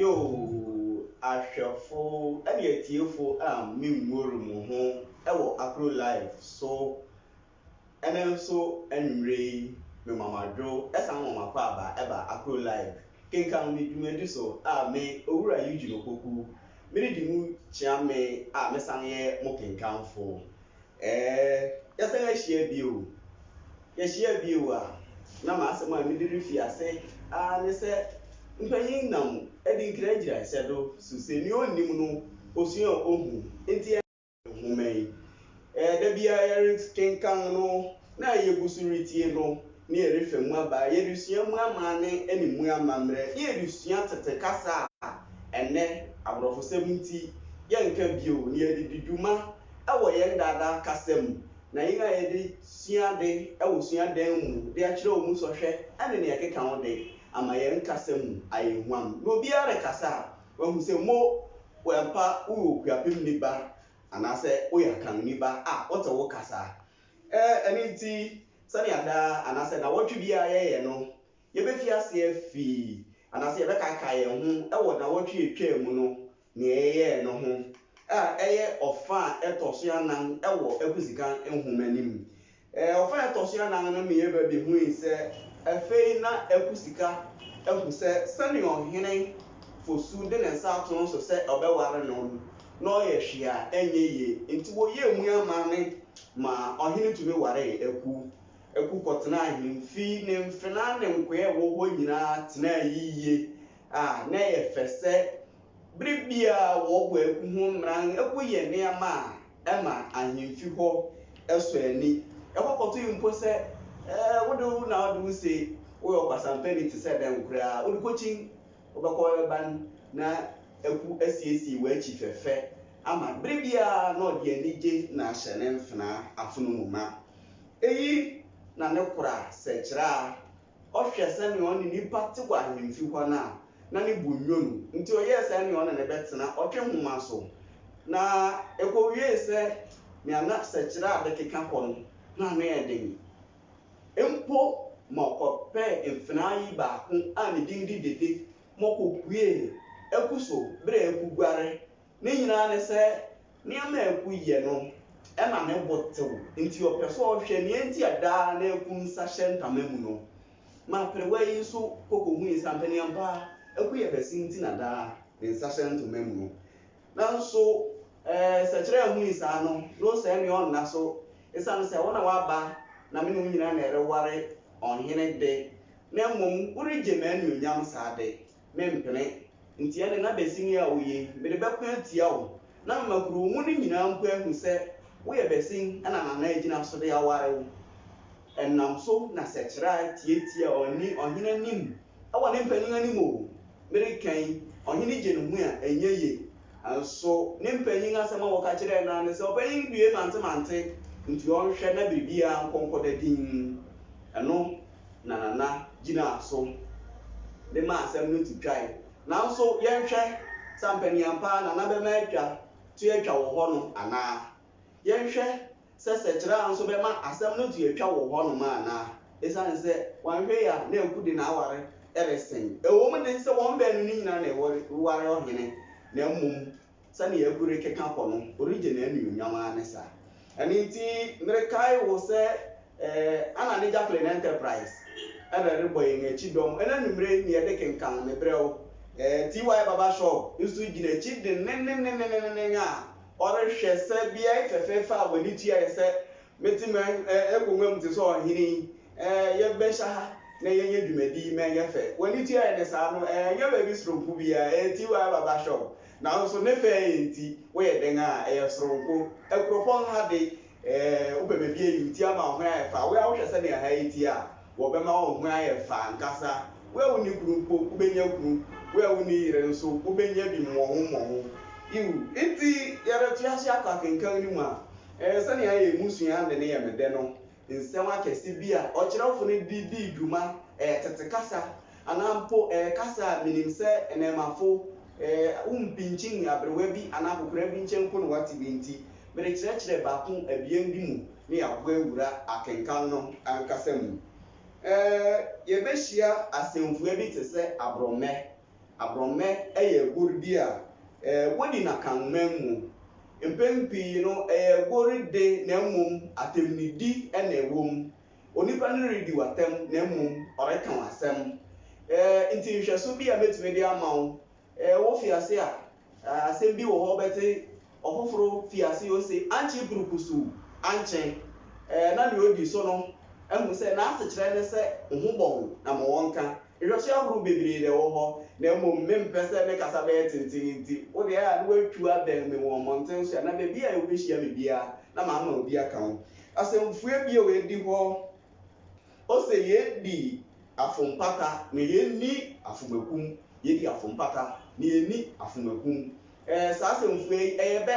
Yoo, ahwɛfo ne atiefo a mimmuor mo ho wɔ Akro Live so. Ɛnnɛ nso anwummere yi, mema mo adwo san ma moakwaaba ba Akro Live kenkan me dwumadi so a me, Owura Eugene Opoku, meredi mu kyea me a mesan yɛ mo kenkanfo. Ɛɛ, yɛasan ahyia bio. Yɛahyia bio a, na m'asɛm a mede refi ase ara ne sɛ mpanyin nam adi nkyerɛkyerɛsɛ do su sɛ nea onnim no, osua a ohu. Enti ɛnnɛ nhoma yi, da biara yɛrekenkan no na yegu so retie no ne yɛrefa mu aba, yɛresua mu amanne ne mu amammerɛ, na yɛresua tete kasa a ɛnnɛ aborɔfosɛm nti yɛnka bio, na yɛde di dwuma wɔ yɛn daadaa kasa mu, na yɛn a yɛde sua ade wɔ suadan mu de akyerɛ wɔn mu sɔhwɛ ne nea ɛkeka ho de, ama yɛn kasa mu ayɛ huam. Na obiara rekasa a, wahu sɛ mo wɔ ampa woyɛ Okuapemni ba anaasɛ woyɛ Akanni ba a, wote wo kasa. Ɛno nti, sɛnea daa anaasɛ nnawɔtwe biara yɛyɛ no, yɛbɛfi ase afi anaasɛ yɛbɛkaakae yɛn ho wɔ nnawɔtwe a ɛtwaa mu no nea yɛyɛe no ho, a ɛyɛ ɔfã a ɛtɔ so anan wɔ Akwasikan nhoma no mu. Ɔfã a ɛtɔ so anan no ma yɛba bi hui sɛ afei na Akwasika ahu sɛ sɛnea Ɔhene Fosu de ne nsa ato no so sɛ ɔbɛware no no, na ɔyɛ hwee a ɛnyɛ yie. Enti wɔyɛɛ mu amanne ma ɔhene tumi waree Aku. Aku kɔtenaa ahemfi. Ne mfenaa ne nkoa a ɛwɔ hɔ nyinaa tenaa yiye a na ɛyɛ fɛ sɛ bere biara wɔbɔ agu ho mmara no gu yɛ nneɛma a ɛma ahemfi hɔ sɔ ani. Ɛkɔkɔtoe mpo sɛ wo de wo na wode wo se woyɛ ɔkwasampani te sɛ dɛn koraa, wode kokyin wobɛkɔ bɛba no na aku asiesie w'akyi fɛfɛ ama no. Bere biara na ɔde anigye na ahyɛ ne mfenaa afono mu ma. Eyi na ne kora sɛkyerɛ a Ɔhwɛ sɛnea ɔne nnipa te wɔ ahemfi hɔ no a, na ne bo nnwo no, enti ɔyɛɛ sɛnea ɔne no bɛtena ɔtwe nhoma so. Na ekowiee sɛ nea na sɛkyerɛ a bɛkeka kɔ no, na ano yɛ den mpo ma ɔkɔpɛɛ mfenaa yi baako a ne din de Dede ma okopuee aku so bere a akuguare Ne nyinaa ne sɛ, nneɛma a aku yɛ no ma ne bo tew, enti ɔpɛ sɛ ɔhwɛ nea enti a daa na aku nsa hyɛ ntama mu no. Ma aperewa yi nso kɔ kohui sɛ ampa ne ampa aku yɛ kɛse nti na daa ne nsa hyɛ ntoma mu no. Nanso sɛkyerɛ anhui saa no, na ɔsɛe nea ɔnna so esiane sɛ wo na woaba na me ne wo nyinaa na ɛreware ɔhene de, na mmom woregye m'anuonyam saa de, mempene. Enti ɛnde na basini a woye yi, mede bɛko atia wo, na mema kurow mu no nyinaa mpo ahu sɛ woyɛ basin na Nana agyina so de aware wo. Ɛnam so na Sɛkyerɛ tiatia ɔne ɔhene anim wɔ ne mpanyin anim o. Mereka yi, ɔhene gye ne ho a, ɛnyɛ ye. Nanso ne mpanyin asɛm a wɔka kyerɛɛ no ara ne sɛ, Ɔpanyin due mantemante, enti ɔnhwɛ na biribiara nkɔ nkɔda dinn. Ɛno. na Nana gyinaa so de maa asɛm no to twae. Nanso yɛnhwɛ, sɛ ampa ni ampa Nana bɛma atwa to atwa wɔ hɔ no anaa? Yɛnhwɛ sɛ Sɛkyerɛ nso bɛma asɛm no to atwa wɔ hɔnom anaa? Esiane sɛ wanhwɛ yie a na Aku de n'aware resen. Ɛwom de sɛ wɔn baanu no nyinaa na wɔreware ɔhene, na mmom Sɛnea agu rekeka kɔ no, ɔregye n'anuonyam ara ne saa. Ɛno nti, merekae wo sɛ Anna ne Jacqueline Enterprise na ɛrebɔ yɛn akyi dɔm. Ɛna anwummere yi na yɛde kenkan Mebrɛ Wo. TY Barber Shop nso gyina akyi denneennen a ɔrehwɛ sɛ beae fɛfɛɛfɛ a w'ani tua yɛ sɛ Mete m'akongua mu te sɛ ɔhene yi, yɛbɛhyɛ ha na yɛnyɛ dwumadi ma ɛnyɛ fɛ. W'ani tua yɛ ne saa no, ɛnyɛ baabi soronko biara, ɛyɛ TY Baba Shop. Nanso ne fɛ yi nti, woyɛ dɛn a, ɛyɛ soronko. Akuropɔn ha de, wopɛ baabi a ɛyɛ tia ama wo ho ayɛ fɛ a, wo ara wohwɛ sɛnea ɛha yɛ tia a, wɔbɛma wo ho ayɛ fɛ ankasa. Wo a wonni kunu mpo, wobɛnya kunu. Wo a wonni yere nso, wobɛnya bi mmɔho mmɔho. Yiw, enti yɛreto ase akɔ akenkan no mu a, Ɛɛ, sɛnea yɛn mmusua de no yɛ me dɛ no, nsɛm akɛse bi a ɔkyerɛwfo no de dii dwuma, ɛyɛ tete kasa anaa mpo ɛyɛ kasa a minim sɛ nnɛɛmafo wompinkyin aberewa bi anaa akwakoraa bi nkyɛn mpo na wɔate bi nti, merekyerɛkyerɛ baako abien bi mu na yɛaboa awura akenkan no ankasa mu. Ɛɛ, yebehyia asɛmfua bi te sɛ aborɔmmɛ, Aborɔmmɛ yɛ agoru bi a wodi no Akanman mu. Mpɛn pii no, ɛyɛ agoru de na mmom atɛmnidi na ɛwom. Onipa no redi wo atɛm na mmom ɔreka wo asɛm. Enti nhwɛso bi a metumi de ama wo, wofi ase a, Asɛm bi wɔ hɔ bɛtse ɔfoforo fi ase ose, Annkye burukusoo annkye na nea odi so no ahu sɛ n'asekyerɛ ne sɛ wo ho bɔ wo na ma wɔnka. Nhwɛso ahorow bebree na ɛwɔ hɔ, na mmom mempɛ sɛ me kasa bɛyɛ tenten nti, wo deɛ a na woatu abɛn me wɔ mmɔnten so anaa baabi a wubehyia me biara na mama obi aka wo asɛmfua bi a edi hɔ. Ose yedi afompata na yenni afomakum, yedi afompata na yenni afomakum. Ɛɛ, saa asɛmfua yi, ɛyɛ bɛ.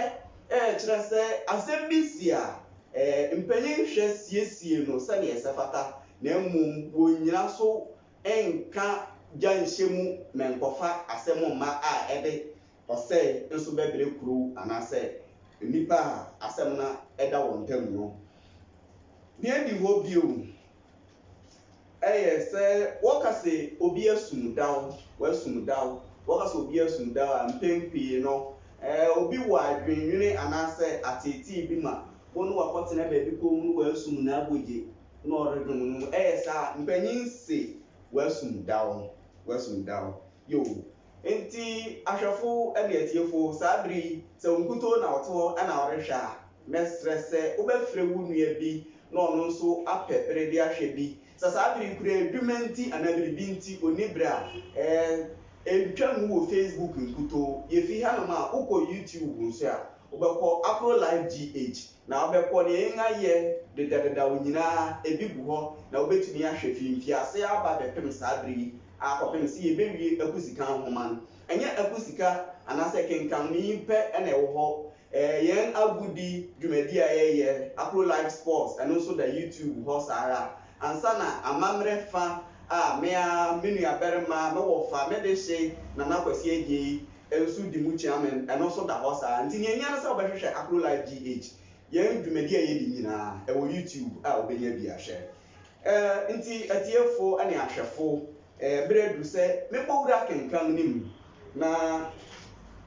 Ɛɛ, kyerɛ sɛ asɛm bi si a, ɛɛ, mpanyin hwɛ siesie no sɛnea ɛsɛ fata, na mmom wonnyina so nka gya nhyɛ mu mɛnkɔfa asɛm mma a ɛde ɔsɛe nso bɛbrɛ kurow anaasɛ nnipa a asɛm no da wɔn ntam no. Nea edi hɔ bio yɛ sɛ wɔka sɛ obi asum daw, wasum daw. Wɔka sɛ obi asum daw a, mpɛn pii no, obi wɔ adwennwene anaasɛ ateetee bi ma wo ne wakɔtena baabi komm na wasum n'abogye na ɔredwom no. Ɛyɛ saa a, mpanyin se wasum daw, wasum daw. Yoh. Enti, ahwɛfo ne atiefo, saa bere yi, sɛ wo nkutoo na wote hɔ na worehwɛ a, mɛsrɛ sɛ wobɛfrɛ wo nua bi na ɔno nso apɛ bere de ahwɛ bi. Sɛ saa bere yi koraa adwuma nti anaa biribi nti onni bere a, ɛɛ, entwa ngu wɔ Facebook nkutoo. Yefi hanom a, wokɔ YouTube nso a, wobɛkɔ Aprolife GH. Na ɔbɛkɔ nea yɛn ayɛ dedadedaw nyinaa, ebi gu hɔ na wobetumi ahwɛ fi mfiase ara aba abɛpem saa bere yi ara kɔpem sɛ yebewie akusikan nhoma no. Ɛnyɛ akusika anaasɛ kenkanne yi pɛ na ɛwɔ hɔ, ɛɛ, yɛn agodi dwumadi a yɛyɛ, Akuro Live Sports, ɛno nso da YouTube hɔ saa ara. Ansa na amammerɛ fã a me ara, me nuabarima, me wɔfa, me dehye, Nana Kwasi Adjei, nso di mu kyea me, ɛno nso da hɔ saa ara. Nti nea ehia ne sɛ wobɛhwehwɛ Akro Live GH. Yɛn dwumadi a yedi nyinaa, ɛwɔ YouTube a wubenya bi ahwɛ. Eh, nti atiefo ne ahwɛfo, eh, bere adu sɛ mebɔ wura akenkan no mu na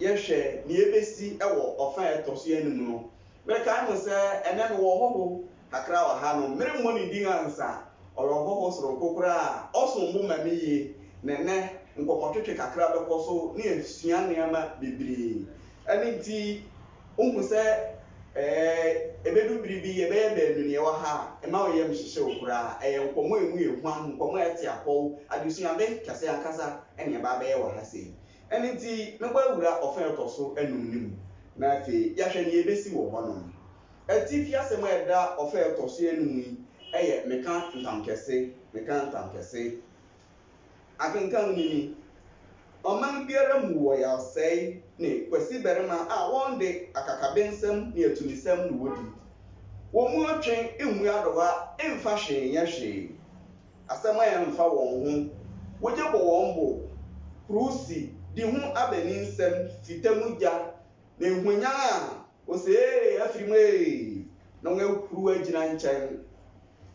yɛhwɛ nea ebesi wɔ ɔfã a ɛtɔ so anum no. Merekae mo sɛ ɛnnɛ mewɔ ɔhɔho Kakra wɔ ha no, meremmɔ ne din ansa. Ɔyɛ ɔhɔho soronko koraa a ɔsom bo ma me yie, na ɛnnɛ nkɔmmɔtwetwe kakra bɛkɔ so ne yɛasua nneɛma bebree. Ɛno nti, wuhu sɛ ebedu bere bi yɛbɛyɛ baanu na yɛwɔ ha a, mma wo yam nhyehye wo koraa. Ɛyɛ nkɔmmɔ a emu yɛ huam, nkɔmmɔ a ɛte apɔw, adesuade kɛse ankasa na yɛaba abɛyɛ wɔ ha sei. Ɛno nti, mɛbɔ awura ɔfã a ɛtɔ so anum no mu, na afei yɛahwɛ nea ebesi wɔ hɔnom. Atifi asɛm a ɛda ɔfã a ɛtɔ so anum mu yi yɛ meka ntam kɛse, meka ntam kɛse. Akenkan no ni, Ɔman biara mu wɔ yawsɛe ne kwasibarima a wɔn de, akakabensɛm ne atumisɛm na wodi. Wɔn mu ɔtwe mmu adowa mfa hwee nyɛ hwee. Asɛm a ɛmfa wɔn ho, wogye bɔ wɔn bo, hurusi, di ho abaninsɛm, fita mu gya, na ehwanyan a Ose, Ee, afiri mu ee, na wɔahuruw agyina nkyɛn.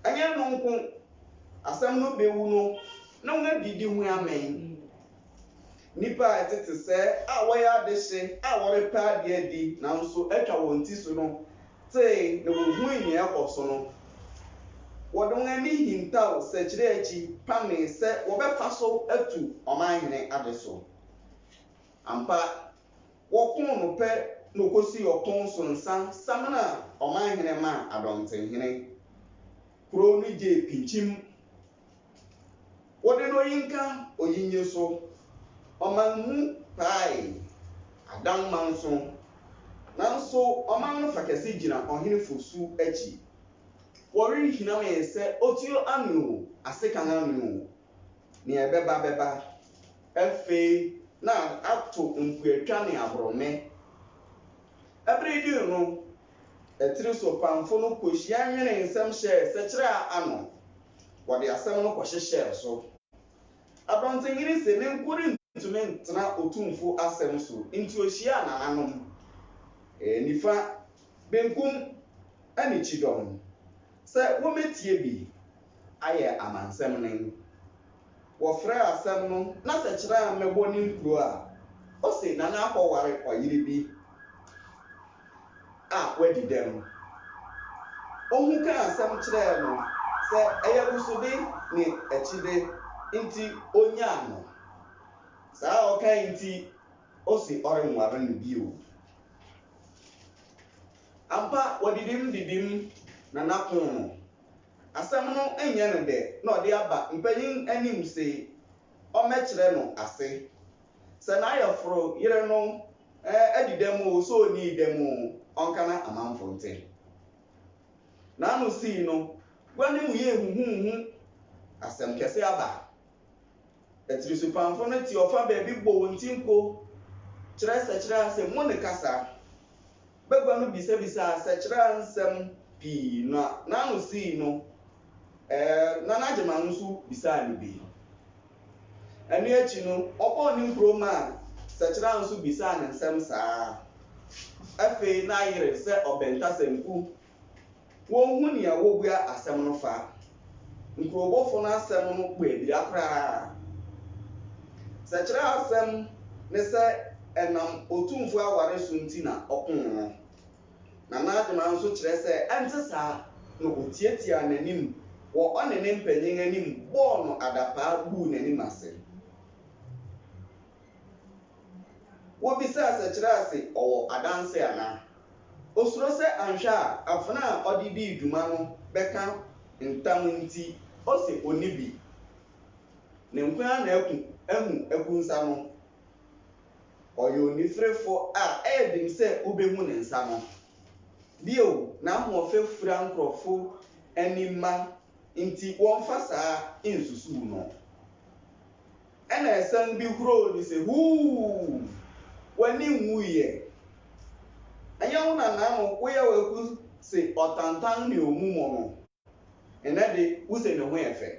Ɛnyɛ ɛno nko, asɛm no bewu no, na wɔadidi ho amee. Nnipa a ɛtete sɛɛ a wɔyɛ adehye a wɔrepɛ ade adi nanso atwa wɔn ti so no tee na wohui nea ɛrekɔ so no. Wɔde wɔn ani hintaw sɛkyerɛ akyi pamee sɛ wɔbɛfa so atu ɔmanhene ade so. Ampa, Wɔkoo no pɛ na ɔkɔsii ɔko so nsa samena ɔmanhene maa Adɔntenhene. Kuro no gyee pinkyim. Wɔde no Oyinka Oyinye so. Ɔman mu paae. Adanma nso. Nanso ɔman no fa kɛse gyina Ɔhene Fosu akyi. Wɔwe hinamee sɛ otuo anwene o, asekan anwene o. Nea ɛbɛba bɛba. Afei na ato mpuatwa ne aborɔme. Bere dui no, atiri so pamfo no kohyiaa nwenee nsɛm hyɛɛ sɛkyerɛ ano. Wɔde asɛm no kɔhyehyɛɛ so. Adɔntenhene se ne nko rentumi ntena Otumfo asɛm so nti ohyiaa nananom, nifa, benkum, ne kyidɔm sɛ wommetie bi ayɛ amansɛm nen. wɔfrɛɛ asɛm no n'asɛkyerɛ a mmɛbɔ ne nkuro a, ose na n'akɔware ɔyere bi a wadi dɛm. Ohu kaa asɛm kyerɛɛ no sɛ ɛyɛ abusode ne akyide nti onyaa no. Saa a ɔkae nti ose ɔrenware no bio. Ampa wɔdidim didim na n'apon no Asɛm no nnyɛ no dɛ na ɔdze aba mpanyin anim se ɔmmɛkyerɛ no ase. Sɛ n'ayɛforo yer no adi dɛm oo, sɛ onnii dɛm oo, ɔnka na amamfo ntse. N'ano sii no, gua no mu yɛɛ huhuuhu, asɛm kɛse aba. Atirisopamfo no te ɔfa baabi bɔ wɔn ti nko kyerɛ sɛkyerɛ asɛm mu ne kasa. Bagua no bisabisaa sɛkyerɛ nsɛm pii na n'ano sii no, ɛɛ, na n'agyeman no nso bisaa no bi. Ɛno akyi no, wɔbɔɔ ne nkuro maa sɛkyerɛ nso bisaa no nsɛm saa ara. Afei na ayere sɛ ɔbɛntasɛmku wonhu nea wobua asɛm no fa. Nkurowbɔfo no asɛm no bɔ abira koraa. Sɛ kyerɛwsɛm ne sɛ ɛnam Otumfo aware so nti na ɔko no, na n'adwemma nso kyerɛ sɛ ɛnte saa na otiatiaa n'anim wɔ ɔne ne mpanyin anim bɔɔ no adapaa guu n'anim ase. Wobisaa sɛ Kyerɛase wɔ adanse anaa. Osuro sɛ anhwɛ a afena a ɔde dii dwuma no bɛka ntam nti, ose onni bi. Ne nko ara na aku ahu aku nsa no. Ɔyɛ onifirifo a ɛyɛ den sɛ wubehu ne nsa no. Bio, n'ahoɔfɛ fura nkurɔfo ani ma nti wɔmfa saa nsusuw no. Ɛnna asiane bi huroo no sɛ, Huu! W'ani nwui ɛ? Ɛnyɛ wo na nnaano woyɛ waku se ɔtantan ne omumɔ no? Nnɛ de, wuse ne ho yɛ fɛ.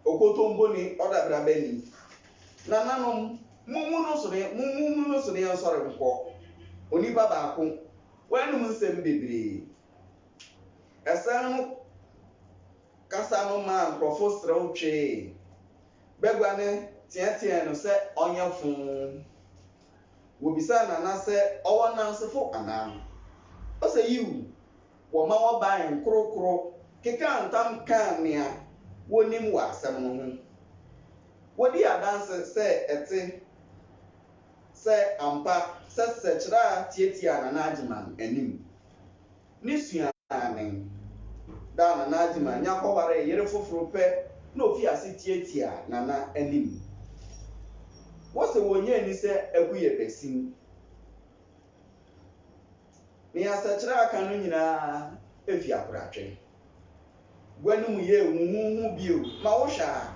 Okotompo ni, ɔdabraba ni. Nananom, mummu no so ne, mummu no so ne yɛnsɔre nkɔ. Onipa baako, wanom nsɛm bebree. Asiane no kasa no maa nkurɔfo serew twee. Bagua no teɛteɛɛ no sɛ ɔnyɛ foo. Wobisaa Nana sɛ ɔwɔ nnansefo anaa. Ose yiw. Wɔma wɔbae nkorokoro kekaa ntam kaa nea wonim wɔ asɛm no ho. Wodii adanse sɛ ɛte sɛ ampa sɛ Sɛkyerɛ a tiatiaa Nana Agyeman anim. Ne suani, Dana Nadzima nya kɔwaree yere foforo pɛ na ofii ase tiatiaa Nana anim. Wɔse wɔnnya nni sɛ Agu yɛ basin. Nea asakyera aka no nyinaa fi akoratwe. Gua no mu yɛɛ huhuuhu bio ma wohwɛ a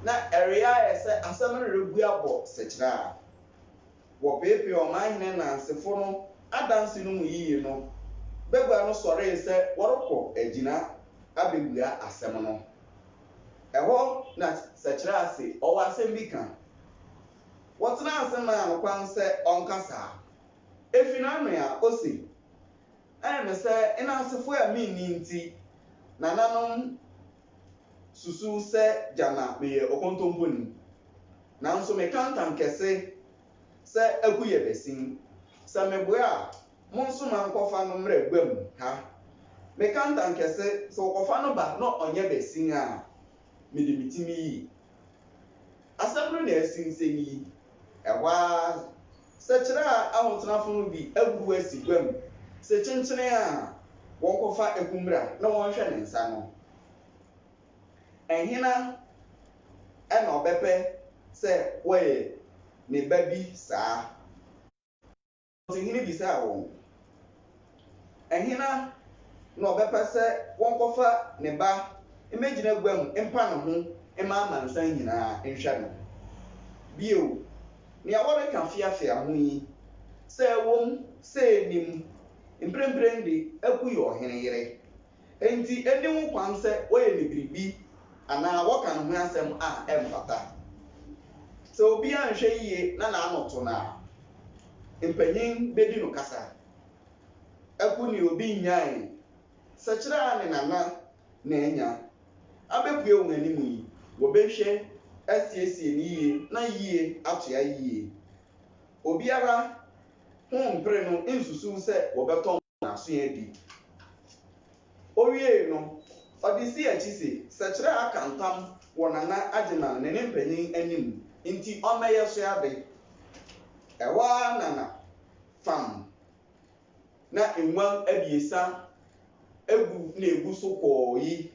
na ɛreyɛ ayɛ sɛ asɛm no rebu abɔ sakyera. wɔpeepee ɔmanhene nnansefo no adanse no mu yiye no, bagua no sɔree sɛ wɔrekɔ agyina abebua asɛm no. Ɛhɔ na Sɛkyerɛase ɔwɔ asɛm bi ka. Wɔtenaa ase maa no kwan sɛ ɔnkasa. Efi n'ano a, ose, Ɛyɛ me sɛ nnansefo a minni nti, nananom susuw sɛ gyana meyɛ ɔkontomponi. Nanso meka ntam kɛse sɛ aku yɛ basin. Sɛ meboa a, monsoma nkɔfa no mmra guam ha. Meka ntam kɛse sɛ wɔkɔfa no ba na ɔnyɛ basin a, mede me ti meyi. Asɛm no na ɛsensɛn yi. Ɛhɔ ara, sɛkyerɛ a ahotenafo no de abufuw asi gua mu se kyenkyene a wɔnkɔfa ɛko mmra na wɔnhwɛ ne nsa no. Hena na ɔbɛpɛ sɛ wɔyɛ ne ba bi saa? Ɔsahene bisaa wɔn, Hena na ɔbɛpɛ sɛ wɔkɔfa ne ba mmɛgyina gua mu mpa ne ho mma amansan nyinaa nhwɛ no? Bio, nea wɔreka feafea ho yi, sɛ ɛwom sɛ ennim, mprempren de, aku yɛ ɔhene yere, Enti enni ho kwan sɛ wɔyɛ no biribi anaa wɔka ne ho asɛm a ɛmfata. Sɛ obi anhwɛ yiye na n'ano to no a, mpanyin bedi no kasa. Aku ne obi nnyae sɛkyerɛ a ne nana na anya abepue wɔn anim yi, wɔbɛhwɛ asiesie no yiye na yiye atoa yiye. Obiara ho mpere no nsusuw sɛ wɔbɛtɔ no. n'aso adi. Owiei no, ɔde sii akyi se, Sɛkyerɛ aka ntam wɔ Nana Agyeman ne ne mpanyin anim nti ɔmmɛyɛ so ade. Ɛhɔ ara na na fam na nguan abiɛsa gu na egu so kɔɔ yi.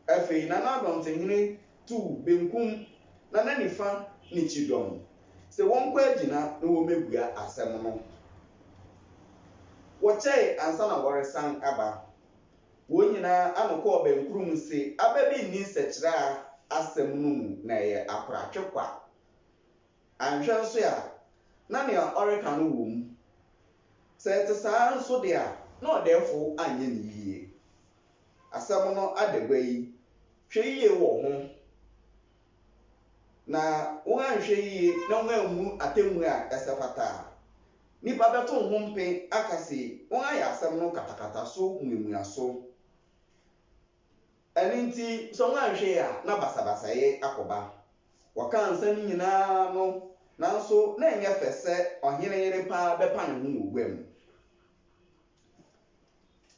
Afei Nana Dɔntehene Tu benkum na na nifa ne kyidɔm sɛ wɔnkɔ agyina na wɔmmɛbua asɛm no. Wɔkyɛe ansa na wɔresan aba. Wɔn nyinaa ano kɔɔ bɛnkoro mu se aba bi nni nsɛkyerɛa asɛm no mu na ɛyɛ akoratwe kwa. Anhwɛ nso a, na nea ɔreka no wɔ mu. Sɛ ɛte saa nso de a, na ɔdɛɛfo anyɛ no yiye. asɛm no adagua yi, hwɛ yiye wɔ ho na woanhwɛ yiye na woammu no atemmu a ɛsɛ fata a, nnipa bɛto wo ho mpe aka se woayɛ asɛm no katakata so mmuamua so. Ɛno nti, sɛ woanhwɛ a na basabasayɛ akɔba. Wɔkaa nsɛm yi nyinaa no, nanso na ɛnyɛ fɛ sɛ ɔhene yere paa bɛpa ne ho wɔ guam.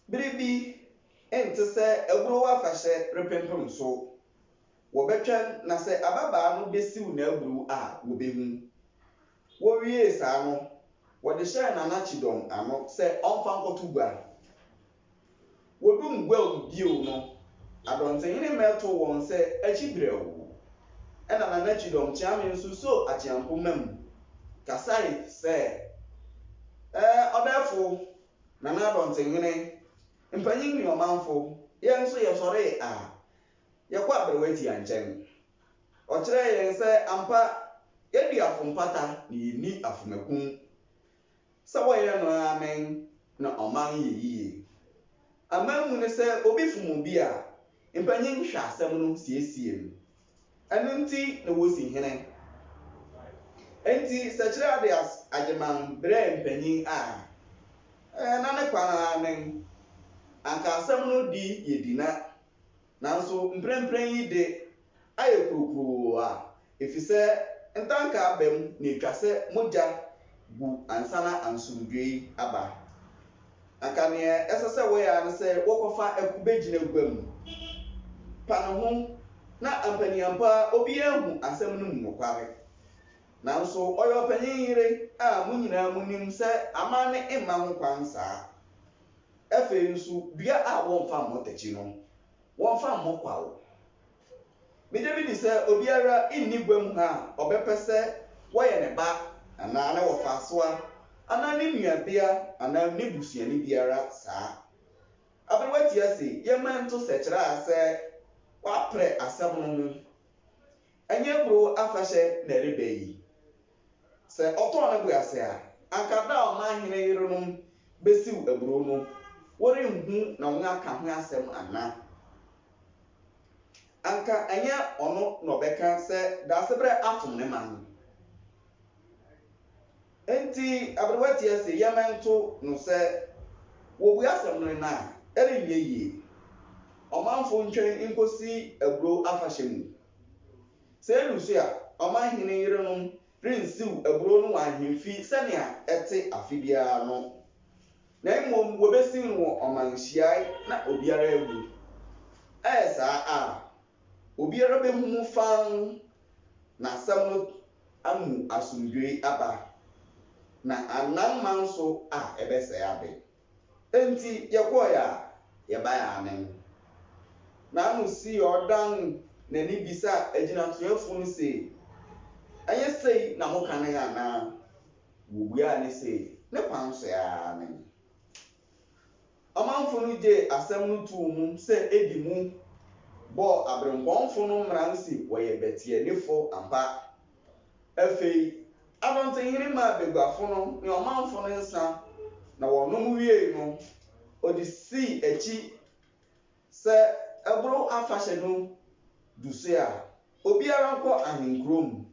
Bere bi nte sɛ aburow afahyɛ repempem so. Wɔbɛtwɛn na sɛ ababaa no besiw n'aburow a wobehu. Wowiee saa no, wɔde hyɛɛ Nana Kyidɔm ano sɛ ɔmfa nkɔto gua. Woduu gua mu bio no, Adɔntenhene mmɛtow wɔn sɛ akyi brɛoo. Ɛnna Nana Kyidɔm kyeame nso soo Akyeampo mam kasae sɛ, Ɛɛ, ɔdɛɛfo, Nana Adɔntenhene, mpanyin ne ɔmanfo, yɛn nso yɛsɔree a, yɛkɔ aberewatia nkyɛn. Ɔkyerɛɛ yɛn sɛ ampa yɛadi afo mpata na yenni afomakum. Sɛ wɔyɛ no ara nen na ɔman yɛ yiye. Amanmu no sɛ obi fom obi a, mpanyin hwɛ asɛm no siesie no. Ɛno nti na wosi hene. Enti sɛ Kyerɛadeas Agyeman brɛɛ mpanyin a, na ne kwan ara nen. Anka asɛm no di yɛ di na. Nanso mprempren yi de, ayɛ kurukuroo a, efisɛ ntanka aba mu na etwa sɛ mogya gu ansa na ansomdwoe aba. Anka nea ɛsɛ sɛ wɔyɛ ara ne sɛ wɔkɔfa ɛko begyina gua mu, pa ne ho, na ampaniampa obiara ahu asɛm no mu nokware. Nanso ɔyɛ ɔpanyin yere a mo nyinaa munim sɛ amanne mma ho kwan saa. Afei nso, dua a wɔmfa mmɔ akyi no, wɔmfa mmɔ kwaw. Migye midi sɛ obiara nni gua mu ha a ɔbɛpɛ sɛ wɔyɛ ne ba anaa ne wɔfaasoa anaa ne nuabea anaa ne busuani biara saa. Aberewa ti ase yɛmma nto sɛkyerɛ a sɛ wɔaprɛ asɛm no ho. Ɛnyɛ aburow afahyɛ na ɛreba yi, Sɛ ɔtɔɔ ne bo ase a, anka da a ɔman hene yerenom besiw aburow no, wɔrenhu na wɔaka ho asɛm ana? Anka ɛnyɛ ɔno na ɔbɛka sɛ Daasebrɛ afom ne man. Enti aberewa tia se, Yɛmmɛnto no sɛ wɔbue asɛm no nnɛ a, ɛrenyɛ yie. Ɔmanfo ntwɛn nkosi aburow afahyɛ mu. Sɛ edu so a, ɔmanhene yerenom rensiw aburow no wɔ ahemfi sɛnea ɛte afe biara no, na mmom wobesiw no wɔ ɔman nhyiae na obiara ahu. Ɛyɛ saa a, obiara behu mu fann na asɛm no amu asomdwoe aba, na annan man so a ɛbɛsɛe ade. Enti yɛkɔe a, yɛbae anen. Na ano si a ɔdan n'ani bisa agyinatuafo no se, Ɛnyɛ sei na moka nen anaa? Wobuaa no se, Ne kwan so ara nen. Ɔmanfo no gyee asɛm no too mu sɛ edi mu bɔɔ abirempɔnfo no mmara se wɔyɛ bɛteɛnefo ampa. Afei abɔntenhene maa baguafo no ne ɔmanfo no nsã, na wɔnom wiei no, ɔde sii akyi sɛ ɛboro afahyɛ no du so a, obiara nkɔ ahenkurow mu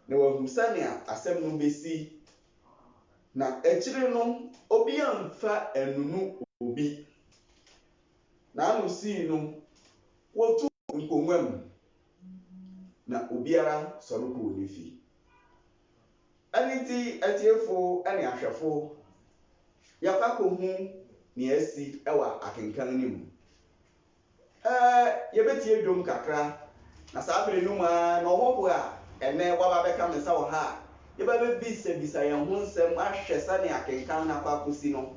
na wahu sɛnea asɛm no besi, na akyiri no obiara mfa nnunu obi. N'ano sii no, wotuu nkongua mu. na obiara sɔre kɔɔ ne fie. Ɛno nti, atiefo ne ahwɛfo, yɛakɔ akɔhu nea asi wɔ akenkan no mu. Ɛɛ, yɛbɛtie dwom kakra, na saa bere no mu ara na ɔhɔho a ɛnnɛ waba abɛka me nsa wɔ ha a yɛba abɛbisabisa yɛn ho nsɛm ahwɛ sɛnea akenkan no akɔ akɔsi no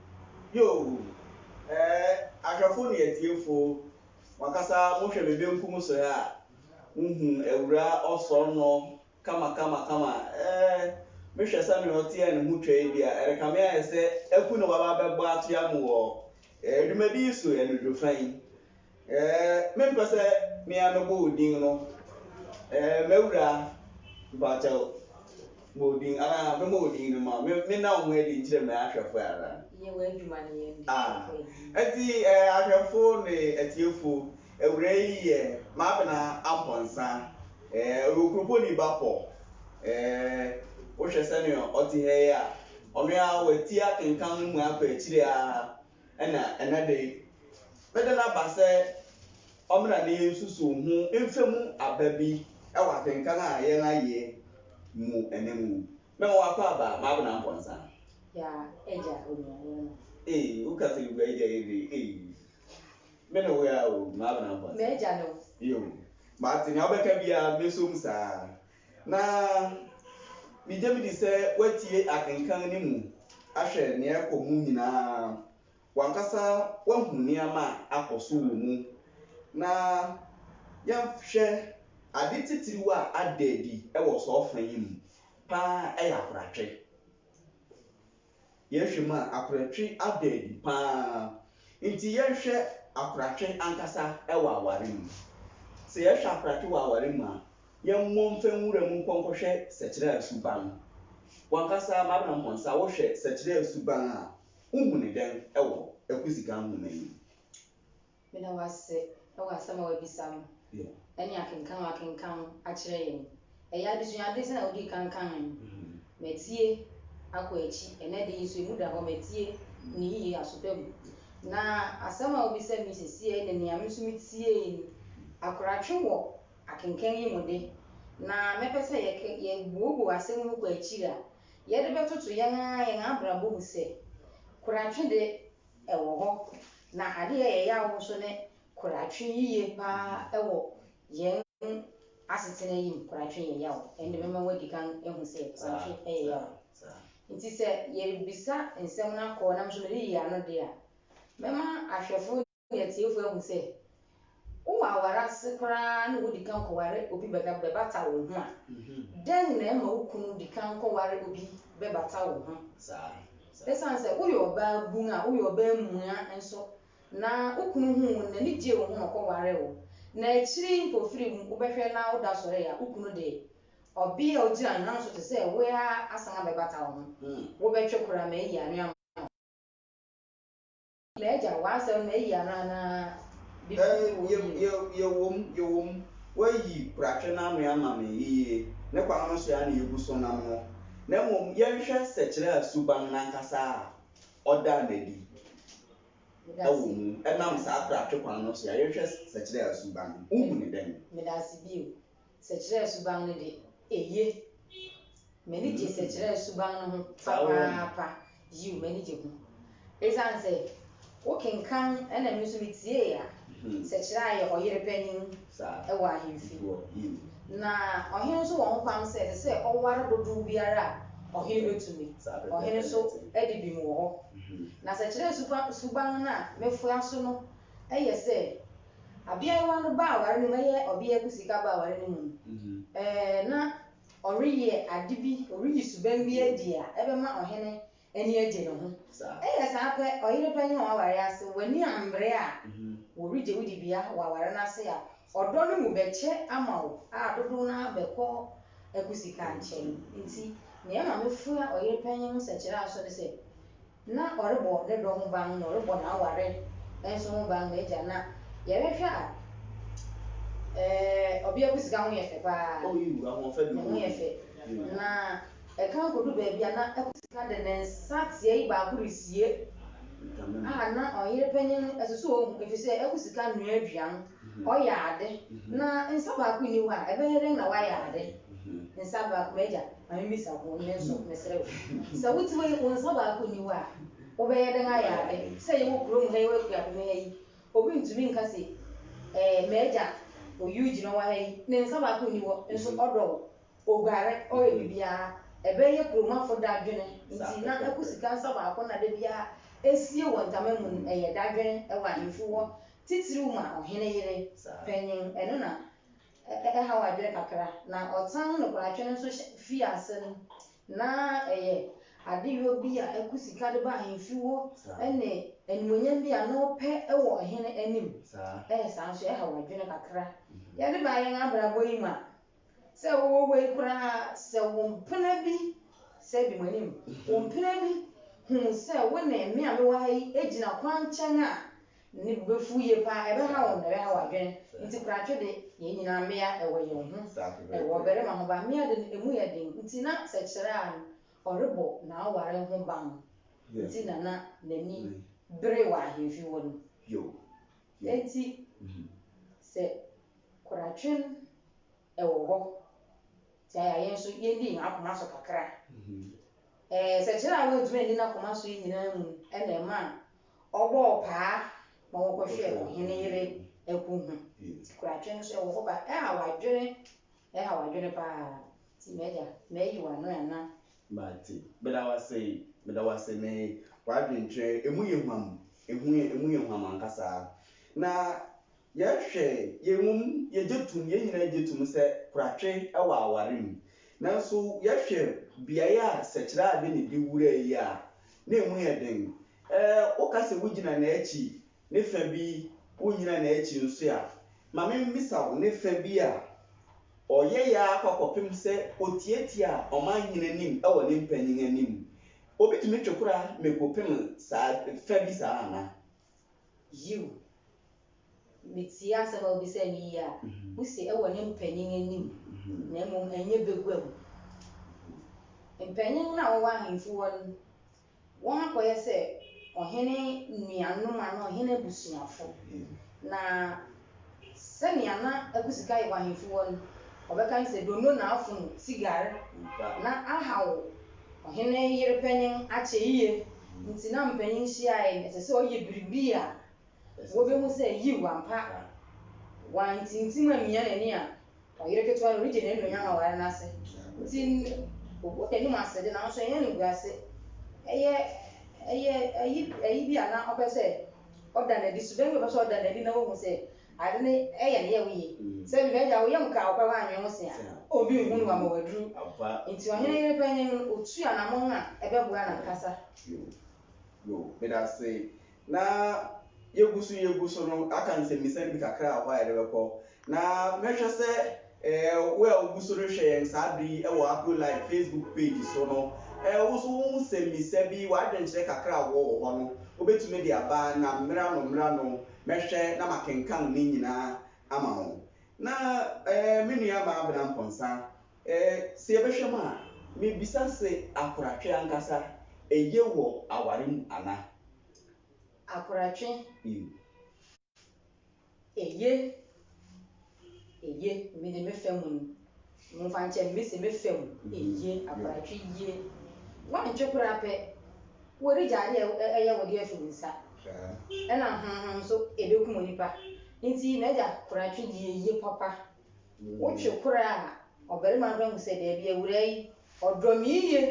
Yoo! Ɛɛ, ahwɛfo ne atiefo, mo ankasa mohwɛ me benkum so ha a, muhu Awuraa Ɔsɔr no kamakamakama. Ɛɛ, mehwɛ sɛnea ɔteɛɛ no ho twaa bi a, ɛrekame ayɛ sɛ aku na waba abɛbɔ atoa mo wɔ, ɛɛ, dwumadi yi so anwudwo fã yi. Ɛɛ, mempɛ sɛ me ara mɛbɔ wo din no. Ɛɛ, m'awura, mpakyɛw, bɔ wo din anaa mɛmmɔ wo din no mma wo. Me, menna wo ho adi nkyerɛ m'ahwɛfo ɛ anaa? Yɛ w'adwuma no yɛ nde Ah, kɔ anim. enti ɛɛ, ahwɛfo ne atiefo, awura yi yɛ m'abena Amponsah. Ɛɛ, ɔyɛ Okuroponi ba pɔ. Ɛɛ, wohwɛ sɛnea ɔte ha yi a, ɔno ara wati akenkan no mu akɔ akyiri ara. Ɛna ɛnnɛ de, mede no aba sɛ ɔmmra na yɛnsusuw ho mfa mu aba bi wɔ akenkan a yɛayɛ mu ɛnnɛ mu. Mɛma woakɔ aba, M'abena Mpɔnsa. Ya agya onuawa no. Ei, woka sɛ mebua agya yi de, ei, me ne wo a o, M'abena Mpɔnsa. M'agya no. Yo, mate nea wobɛka biara, mɛsom saa. Na migye midi sɛ woatie akenkan no mu ahwɛ nea ɛrekɔ mu nyinaa. W'ankasa woahu nneɛma a akɔ so wɔ mu. Na yɛnhwɛ ade titiriw a ada adi wɔ saa ɔfã yi mu paa yɛ akoratwe. Yɛhwɛ mu a, akoratwe ada adi pa ara. Enti yɛnhwɛ akoratwe ankasa wɔ aware mu. Sɛ yɛhwɛ akoratwe wɔ aware mu a, yɛmmɔ mfa nwura mu nkɔ nkɔhwɛ Sɛkyerɛɛ suban. W'ankasa Mabenam Hɔnsa, wohwɛ Sɛkyerɛɛ suban a, wohu no dɛn wɔ Akuziga nhoma yi mu? Meda wo ase wɔ asɛm a woabisa no ne akenkan a woakenkan akyerɛ yɛn. Ɛyɛ adesuade sɛnea wudii kan kae no. Matie akɔ akyi. Ɛnnɛ de nso emu da hɔ. Matie no yiye aso pa mu. Na asɛm a wubisa me yi seesei ne nea me nso mitiei no. Akoratwe wɔ akenkan yi mu de, na mɛpɛ sɛ yɛbuebue asɛm no kɔ akyiri a, yɛde bɛtoto yɛn ara yɛn abrabɔ mu sɛ, Koratwe de, wɔ hɔ, na ade a ɛyɛ yaw nso ne koratwe yiye paa wɔ yɛn asetena yi mu. Koratwe yɛ yaw. Ɛnde mɛma woadi kan ahu sɛ koratwe yɛ yaw. Enti sɛ yɛrebisa nsɛm no akɔ nam so na yɛreyi ano de a, mɛma ahwɛfo ne atiefo ahu sɛ Wowɔ aware ase koraa na wudi kan kɔware obi bɛbata wo ho a, dɛn na ɛma wo kunu di kan kɔware obi bɛbata wo ho saa? Esiane sɛ woyɛ ɔbaabun a woyɛ ɔbaamua nso na wo kunu huu wo no, n'ani gyee wo ho na ɔkɔwaree wo, na akyiri yi mpofirim no wobɛhwɛ na woda sɔre a, wo kunu de, ɔbea a ogyina wo nan so te sɛ wo ara asan abɛbata wo ho. Wobɛtwe koraa ma ayi anwea ama wo. M'agya, w'asɛm no, eyi ano anaa? Biribi bi wom bio? Ye, ye, yewom, yewom. Woayi koratwe no ano ama me yiye. Ne kwan no so ara na yegu so nam no. Na mmom yɛnhwɛ sɛkyerɛ a suban no ankasa a ɔdaa no adi Meda wɔ ase. mu. Ɛnam saa koratwe kwan no so a, yɛnhwɛ sɛkyerɛ a suban no. Wuhu no dɛn? Meda ase bio. sɛkyerɛɛ suban no de, eye. M'ani gye sɛkyerɛɛ suban no ho papaapa. Yiw, m'ani gye ho. Esiane sɛ wokenkan na me nso mitiee a, sɛkyerɛ a ɛyɛ ɔyere panyin wɔ ahemfi, na ɔhene nso wɔ hokwan sɛ ɛsɛ sɛ ɔware dodow biara a ɔhene betumi. Ɔhene nso de bem wɔ hɔ. Na sɛkyerɛɛ suban no a mefoa so no yɛ sɛ, Abeaewa no ba aware no mu, ɛyɛ ɔbea gu sika ba aware no mu no, ɛɛ, na ɔreyɛ ade bi, ɔreyi suban bi adi a ɛbɛma ɔhene ani agye ne ho. Ɛyɛ saa pɛ, ɔyere panyin a waware ase, w'ani ammere a, wɔregye wo dibea wɔ aware no ase a, ɔdɔ no mu bɛkyɛ ama wo a dodow no ara bɛkɔ agu sika nkyɛn. Enti, nea ɛma mefua ɔyere panyin ho sɛkyerɛ aso ne sɛ, Ná ɔrebɔ ne dɔ ho ban, na ɔrebɔ n'aware nso ho ban. M'agya, na yɛrehwɛ a, eh, ɔbea bi sika ho yɛ fɛ paa. Ne ho yɛ fɛ. Na ɛkan kodu baabi a na ɛkɔ sika de ne nsa tiae baako resie a na ɔyere panyin no asusuw ohu, efisɛ ɛkɔ sika noa aduan. Ɔyɛ ade, na nsa baako nni hɔ a, ɛbɛyɛ dɛn na wayɛ ade? Nsa baako, m'agya, ma mimmisa wo, me nso, mesrɛ wo. Sɛ wote hɔ yi, wo nsa baako nni hɔ a, wobɛyɛ dɛn ayɛ ade? Sɛ yɛwɔ kurom ha yi, yɛwɔ akuapem ha yi, obi ntumi nka se, Ɛɛ, m'agya, oyiw gyina hɔ wɔ ha yi, ne nsa baako nni hɔ, nso ɔdɔ wo, oguare, ɔyɛ biribiara. Ɛbɛyɛ kuromafo dadwene nti na akusika nsa baako na da biara esie wɔ ntama mu no, ɛyɛ dadwene wɔ ahemfi hɔ Titiriw ma ɔhene yere panyin. Ɛno na ɛhaw adwene kakra. Na ɔtan nokwaratwe no nso fii ase no, na ɛyɛ adeyɔ bi a ɛko sika de ba ahemfi wɔ ne animuonyam bi a na ɔpɛ wɔ ɔhene anim. Ɛyɛ saa nso, ɛhaw adwene kakra. Yɛde ba yɛn abrabɔ yi mu a, sɛ wowɔ hɔ yi koraa sɛ wo mpena bi, sɛ di m'anim, wo mpena bi hu sɛ wo ne me a mewɔ ha yi gyina kwankyɛn a, ne bo bɛfu yie paa, ɛbɛha wɔn, ɛbɛha wɔn adwene. Nti koratwe de, yɛn nyinaa mmea wɔ yɛn ho, ɛwɔ barima ho, but mmea de no, ɛmu yɛ den. Nti na sɛ kyerɛ a, ɔrebɔ n'aware ho ban. Nti na na n'ani bere wɔ ahemfie hɔ no. Enti sɛ koratwe no wɔ hɔ tia yɛn a, yɛn nso yɛnni yɛn akoma so kakra. Ɛɛ, sɛkyerɛ a wantumi anni n'akoma so yi nyinaa mu na ɛmaa ɔbɔɔ paa ma wɔkɔhwɛɛ ɔhene yere akuw ho. Nti koratwe no nso wɔ hɔ ba. Ɛhaw adwene, ɛhaw adwene paa. Nti m'agya, mayi w'ano anaa? But meda wo ase, meda wo ase me w'adwenkyerɛ emu yɛ hwam, ehu yɛ emu yɛ hwam ankasa na yɛ hwɛ yɛ mom yɛ gye tum yɛ nyinaa gye tum sɛ koratwe ɛwɔ aware mu nanso yɛ hwɛ beaeɛ a sɛkyerɛ ade ne de wura yi a na emu yɛ den Ɛɛ, woka sɛ wugyina n'akyi, ne fã bi, wunnyina n'akyi nso a, ma mimmisa wo, ne fã bi a ɔyɛe ara kɔ kɔpem sɛ otiatia ɔmanhene anim wɔ ne mpanyin anim, obetumi twe kora mako pem saa fã bi saa ana? Yiw. Mitie asɛm a wubisa no yiye a, wuse wɔ ne mpanyin anim, na mmom ɛnyɛ baguam. Mpanyin no a wɔwɔ ahemfi hɔ no wɔakɔyɛ sɛ ɔhene nuanom anaa ɔhene abusuafo. Na sɛnea na akusika yɛ wɔ ahemfi hɔ no, wɔbɛka ne sɛ donno na afono sigar na ahaw ɔhene yere panyin akyɛ yiye. Enti na mpanyin hyiae no, ɛsɛ sɛ ɔyɛ biribi a wobehu sɛ, yiw, ampa, wantintim ammia n'ani a. Ɔyere ketewa no regye n'anuonyam aware no ase nti, obu n'anim ase de, nanso ɛnyɛ animguase. Ɛyɛ, ɛyɛ ayi, ayi bi a na ɔpɛ sɛ ɔda no adi, suban bi a ɔpɛ sɛ ɔda no adi na wahu sɛ ade no yɛ ne yaw yiye. Sɛ bi, m'agya, wo yam kaa wo pɛ, woannwen ho se a obi nhu no wama waduru. Enti ɔhene yere panyin no, otuu anammɔn a ɛbɛboa n'ankasa. Yoo, yoo, meda ase. Na yegu so yegu so no, aka nsɛmmisa no bi kakra wɔ hɔ a yɛde bɛkɔ. Na mɛhwɛ sɛ wo a wugu so rehwɛ yɛn saa bere yi wɔ Afrolife Facebook page so no, wo nso wo nsɛmmisa bi, w'adwenkyerɛ kakra a wowɔ wɔ hɔ no, wubetumi de aba, na mmerano mmerano mɛhwɛ na makenkan ne nyinaa ama wo. Na me nua Maabena Mponsa, Ɛɛ, sɛ yɛbɛhwɛ mu a, mibisa se akoratwe ankasa eye wɔ aware mu ana? Akoratwe, eye, eye, me de me fa mu no, momfa nkyɛ me, me se me fa mu, eye, akoratwe ye. Woantwe koraa pɛ, wɔregya ade a ɛyɛ wo de afi wo nsa, ɛna honhom nso, ɛbɛkum onipa. Nti, m'agya, koratwe ye, eye papa. Wotwe kora a, ɔbarima no bɛhu sɛ, 'Dabi, awuraa yi, ɔdɔ me yiye,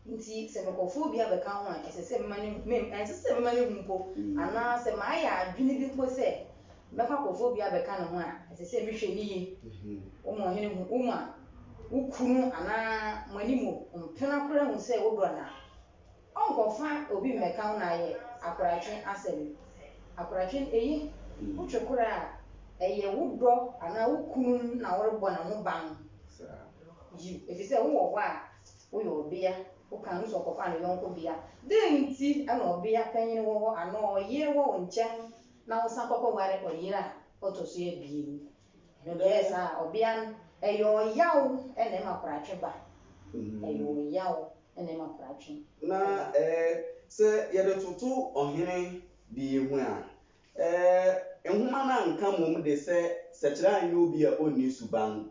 enti sɛ mekɔfa obi abɛka ho a, ɛsɛ sɛ mema no hu, mem, ɛnsɛ sɛ mema no hu mpo, anaa sɛ mayɛ adwene bi mpo sɛ mɛkɔ akɔfa obi abɛka ne ho a, ɛsɛ sɛ mehwɛ no yiye. Woma ɔhene hu, woma wo kunu anaa mo anim mpena kora hu sɛ wodɔ no a, Ɔnkɔfa obi mmɛka wo na ayɛ akoratwe asɛm. Akoratwe no eye. Wotwe kora a, ɛyɛ wo dɔ anaa wo kunu no na worebɔ ne ho ban. Yiw, efisɛ wowɔ hɔ a, woyɛ ɔbea. Wokaa no sɛ ɔkɔfaa ne yɔnko bea. Dɛn nti na ɔbea panyin wɔ hɔ anaa ɔyere wɔ wo nkyɛn na wosan kɔkɔware ɔyere a ɔto so abien? Na deɛ ɛyɛ saa a, ɔbea no, ɛyɛ ɔyaw na ɛma koratwe ba. Ɛyɛ ɔyaw na ɛma koratwe ba. Na sɛ yɛde toto ɔhene de yi ho a, nhoma no anka mmom de sɛ Sɛkyerɛ anyɛ obi a onni suban,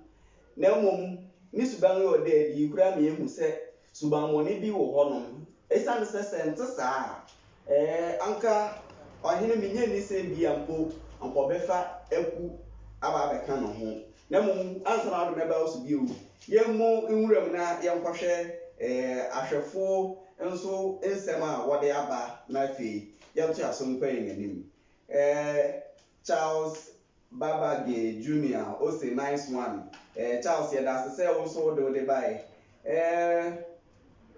na mmom ne suban yɛ ɔda adi. Eyi koraa ma yehu sɛ Subammɔne bi wɔ hɔnom. Esiane sɛ sɛ ɛnte saa a, ɛɛ, anka ɔhene menya nni sɛ ebia mpo anka ɔbɛfa aku aba abɛka ne ho, na mmom ansa na ɔde me aba wo so bio, yɛmmɔ nwuram na yɛnkɔhwɛ ɛɛ, ahwɛfo nso nsɛm a wɔde aba, na afei yɛntoa so nkɔ yɛn anim. Ɛɛ, Charles Babagay Junior ose nice one eh Charles yɛdase sɛ wo nso wode wode bae eh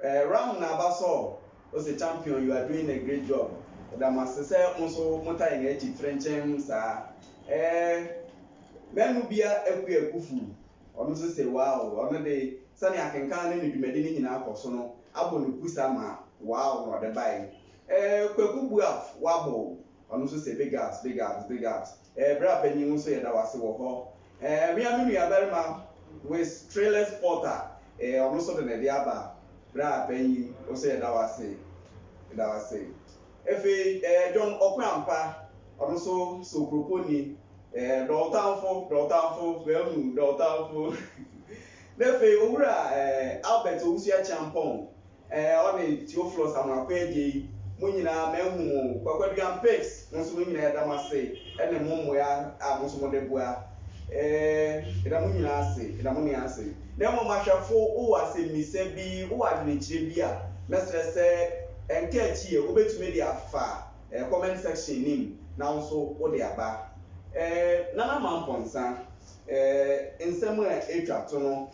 eh Ram na aba so ose champion you are doing a great job yɛda mo ase sɛ mo nso mo ta yɛn akyi frenkyɛm saa eh Manubia Akua Kufu ɔno nso se wow ɔno de sɛnea akenkan ne ne dwumadi no nyinaa kɔ so no abɔ no kusa ma wow na ɔde bae eh Kwaku Buaf Wabble ɔno nso se big ups big ups big ups eh bra panyin wo nso yɛda wo ase wɔ hɔ eh mea me nua barima with trailers porter eh ɔno nso de ne de aba bra panyin wo nso yɛda wo ase yɛda wo ase efei eh John Ɔkwampa ɔno nso sɛ okuroponi eh dɔ wo tamfo dɔ wo tamfo bɛn mu dɔ wo tamfo na efei owura eh Albert Owusu Akyeampɔn Ɛɛ ɔne Theophilus Amoakwa gye yi mo nyinaa mahu mo o. Kwakwaduan pics mo nso mo nyinaa yɛda mo ase ɛne mo mmoa a mo nso mo de boa ɛɛ yɛda mo nyinaa ase yɛda mo nyinaa ase. Na mmom ahwɛfo wo wɔ asɛmmisa bi wo wɔ adwenekyerɛ bi a mɛsrɛ sɛ ɛnka akyi yɛ wo bɛtumi de afa ɛɛ comment section no mu na wo nso wo de aba. Ɛɛ Nana Mampɔnsa ɛɛ nsɛm a ɛtwa to no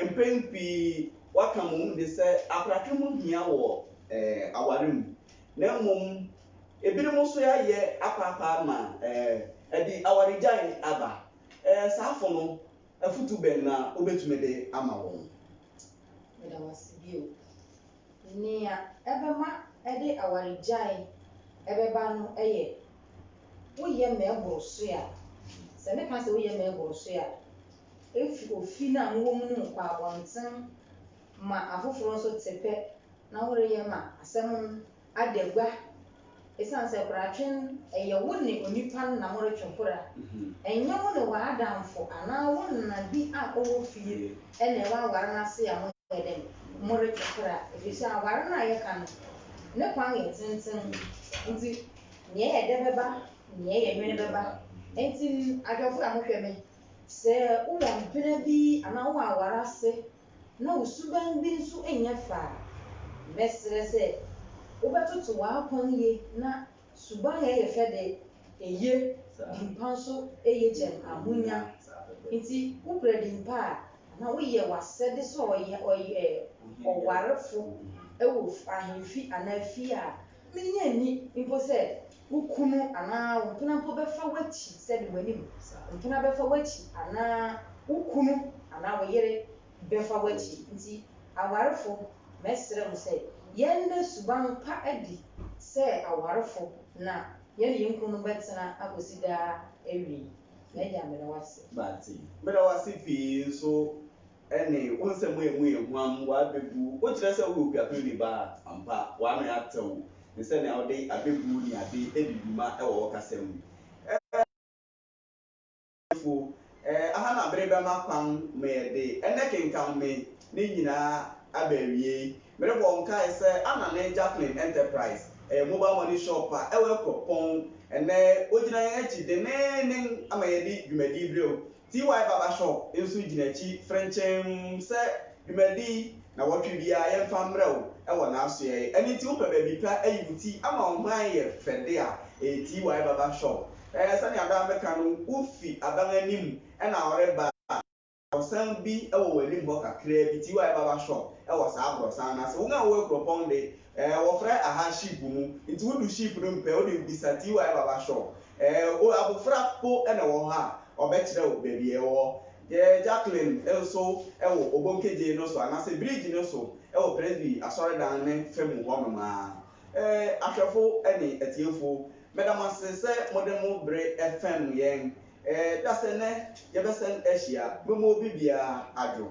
Mpɛn pii wɔaka mmom de sɛ aprate ho hia wɔ aware mu, na mmom ebinom nso ayɛ apaapaa ma ɛde awaregyae aba. Saafo no, afotu bɛn na wobetumi de ama wɔn? Meda wo ase bio. Nea ɛbɛma ɛde awaregyae bɛba no yɛ woyɛ ma ɛboro so a. Sɛ meka sɛ woyɛ ma ɛboro so a, Efi ofi no a mowɔ mu no mu kɔ abɔnten ma afoforo nso te pɛ na woreyɛ ma asɛm no ada gua. Esiane sɛ koratwe no, ɛyɛ wo ne onipa no na moretwe kora. Ɛnyɛ wo ne w'adamfo anaa wo nana bi a ɔwɔ fie na ɛwɔ aware no ase a moyɛ dɛn? Moretwe kora. Efisɛ aware no a yɛka no, ne kwan yɛ tenten, enti nea ɛyɛ dɛ bɛba, nea ɛyɛ nwene bɛba. Enti adwofo a mohwɛ me Sɛ wowɔ mpena bi anaa wowɔ aware ase na wo suban bi nso nyɛ fɛ a, mɛsrɛ sɛ wobɛtoto w'akwan yie na suban a ɛyɛ fɛ de, eye, dimpa nso yɛ gyam ahonya. Enti wokura dimpa a, anaa woyɛ w'asɛde sɛ ɔwarefo wɔ ahemfi anaa fie a, Minnye nni mpo sɛ wo kunu anaa wo mpena mpo bɛfa w'akyi sɛ de w'anim. Mpena bɛfa w'akyi anaa wo kunu anaa wo yere bɛfa w'akyi. Enti awarefo, mɛsrɛ mo sɛ yɛnna suban pa adi sɛ awarefo na yɛne yɛn kununom bɛtena akosi daa awiei. M'Agya, meda wo ase. Meda wo ase pii nso Ɛne, wo nsɛm a emu yɛ huam, w'abebu, wokyerɛ sɛ woyɛ opiapirni ba a, ampa, w'ano atew, ne sɛnea wode abebu ne ade di dwuma wɔ wo kasa mu. Ɛɛ, Ɔbɔnefo, ɛɛ, aha na bere bɛma kwan ma yɛde ɛnnɛ kenkan me ne nyinaa aba awiei. Merebɔ wo nkae sɛ Anna ne Jacqueline Enterprise, ɛyɛ mobile money shop a ɛwɔ Akuapɔn, ɛnnɛ wogyina yɛn akyi denneennen ma yɛde dwumadi brɛ wo. TY Barber Shop nso gyina akyi frenkyemm sɛ, Dwumadi nnawɔtwe biara yɛmfa mmrɛ wo wɔ n'asoɛe. Ɛno nti wopɛ baabi pa ayi wo ti ama wo ho ayɛ fɛ de a, ɛyɛ TY Barber Shop. Ɛɛ, sɛnea daa meka no, wofi aban anim na woreba a, aborɔsan bi wɔ w'anim hɔ kakraa bi, TY Barber Shop wɔ saa aborɔsan no ase. Wɔn a wɔwɔ akuropɔn de, Ɛɛ wɔfrɛ aha sheep mu nti wodu sheep no mpɛ wode bisa ty baba shop ɛɛ o abofra po na ɛwɔ hɔ a ɔbɛkyerɛ wo baabi a ɛwɔ ɛɛ Jacqueline nso ɛwɔ Obonkegye no so anaasɛ bridge no so ɛwɔ Presby asɔredan no fɛ mu hɔ nom aa ɛɛ ahwɛfo ne atiefo meda mo ase sɛ mode mo bere fɛm yɛn ɛɛ dasɛ nnɛ yɛbɛsɛn ahyia memu obi biara adwo.